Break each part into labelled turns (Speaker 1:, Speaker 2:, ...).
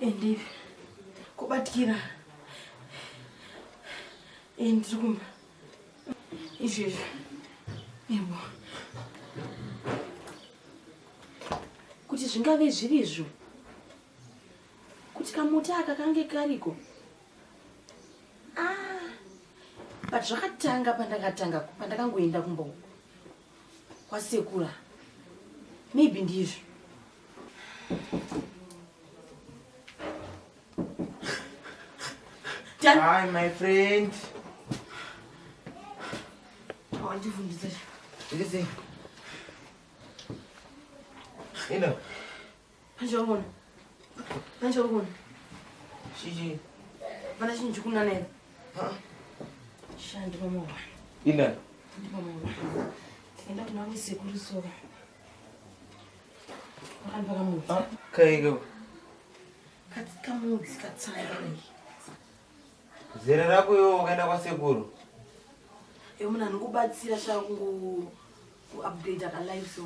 Speaker 1: Endi kubatikira endi kumba izvezvi ebo kuti zvingave zvirizvo kuti kamuti aka kange kariko ah, but zvakatanga pandakatanga pandakangoenda kumba uku kwasekura maybe ndizvo
Speaker 2: Hi, my friend.
Speaker 1: Oh, I'm different. What is it?
Speaker 2: You know. Manje
Speaker 1: wangona. Manje wangona.
Speaker 2: Shiji. Vana
Speaker 1: chinji kuna nene. Ha? Shandi mama wana. Ina.
Speaker 2: Ndi mama wana.
Speaker 1: Tenda kuna wese kuri so. Wakani baka mu. Ha? Kaigo.
Speaker 2: Katika mu
Speaker 1: zikatsanga nei.
Speaker 2: Zera rako yo wakaenda kwa sekuru.
Speaker 1: Yo muna nikubatsira shangu. kuupdater kalive so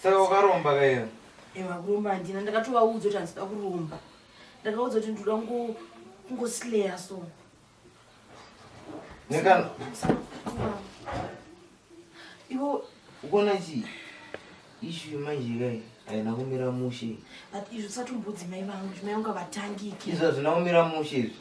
Speaker 1: saka ukaromba
Speaker 2: kaio ewa kuromba handina
Speaker 1: ndakatovaudza kuti handisida kuromba ndakaudza kuti ndinoda kungosileya so
Speaker 2: nekana
Speaker 1: ivo ukuona chii
Speaker 2: ishu manje kai haina kumira mushe but izvo sati
Speaker 1: mbudzi mai vangu mai vangu avatangiki izvo hazvina kumira
Speaker 2: mushe izvi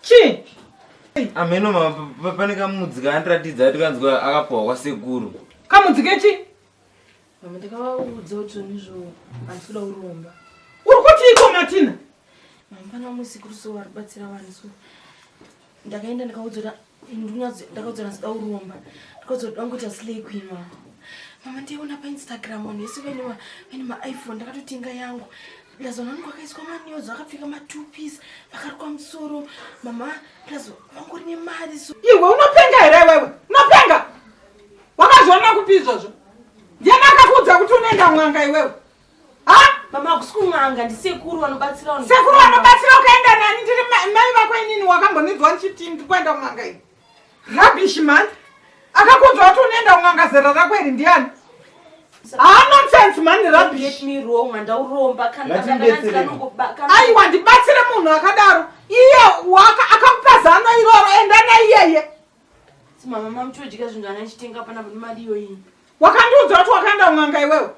Speaker 1: chii
Speaker 3: ameno
Speaker 2: mama pane kamudzi kaandiratidza ati kanzwa akapuhwa kwasekuru kamudzi kechi
Speaker 3: mama
Speaker 1: ndakavaudza kuti zvonizvo handisi kuda uromba uri kuti iko
Speaker 3: matina mama pana
Speaker 1: musi kuruso varibatsira vanhu so ndakaenda ndikaudzora ndakadzonasida kuromba ndakadzoda ngoita slay queen wa mama ndaiona painstagram vanhu vese vaine vaine maiphone ndakatotenga yangu plus vanhu vanenge vakaiswa manews vakapfeka matupis vakarukwa musoro mama plus vangori nemari so iwe unopenga here
Speaker 3: iwewe unopenga wakazviona kupi izvozvo ndiani akakuudza kuti unoenda mwanga iwewe Mama
Speaker 1: kusikun'anga ndisekuru vanobatsira vanhu. Sekuru vanobatsira ukaenda
Speaker 3: nani ndiri mai vako inini wakambonizwa ndichiti ndikuenda kun'anga iyi. Rubbish man. Akakunzwa kuti unoenda kun'anga zera rako iri ndiani? Ah nonsense man rubbish. Let me wrong
Speaker 1: mandauromba kana kana
Speaker 3: Aiwa ndibatsire munhu akadaro. Iye waka akakupa zano iroro enda na iyeye. Mama
Speaker 1: mama chodya zvinhu ana chitenga pana kuti mari iyo iyi. Wakandiudza kuti
Speaker 3: wakaenda kun'anga iwewe.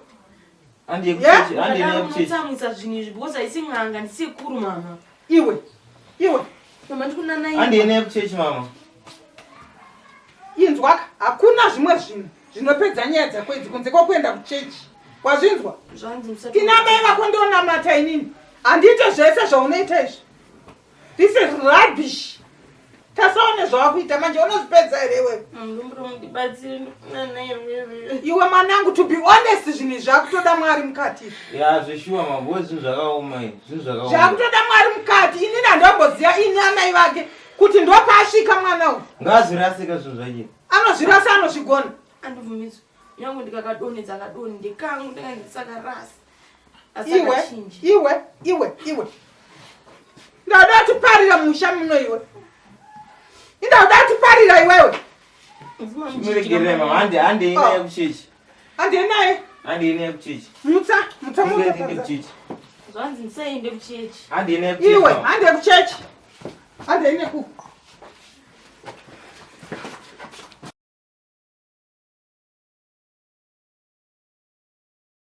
Speaker 3: Andi yekuchechi, andi
Speaker 1: yekuchechi. Ndamutsamwisa zvinhu izvi because haisi n'anga ndisekuru mama. Iwe.
Speaker 3: Iwe.
Speaker 1: Mama ndikunana iwe. Andi ine yekuchechi mama.
Speaker 3: Inzwaka hakuna zvimwe zvinhu zvinopedza nyaya dzako idzi kunze kwakuenda kuchechi. Wazvinzwa? Zvanzi musati. Tina mai vako ndonamata inini. Andiite zvese zvaunoita izvi. This is rubbish. Tasaone zvawakuita manje unozvipedza here iwe? Iwe mwanangu to be honest zvinhu zvakutoda mwari mukati. Ya zveshuwa mambo
Speaker 2: zvinhu zvakaoma izvi. Zvinhu zvakaoma. Zvakutoda mwari mukati.
Speaker 3: Ini ndandomboziva ini amai vake kuti ndopaasvika mwana uyu. Ngaazvirasika zvinhu zvake.
Speaker 2: Anozvirasa anozvigona.
Speaker 3: Andibvumidzwe.
Speaker 1: Nyangu ndikakadonedza kadoni ndekangu ndanga ndisakarasa. iwe iwe
Speaker 3: iwe iwe ndauda kutiparira musha muno iwe indauda kutiparira iwewe
Speaker 2: andienaye mutsa mutsa iwe
Speaker 3: hande kuchechi
Speaker 2: hande ine ku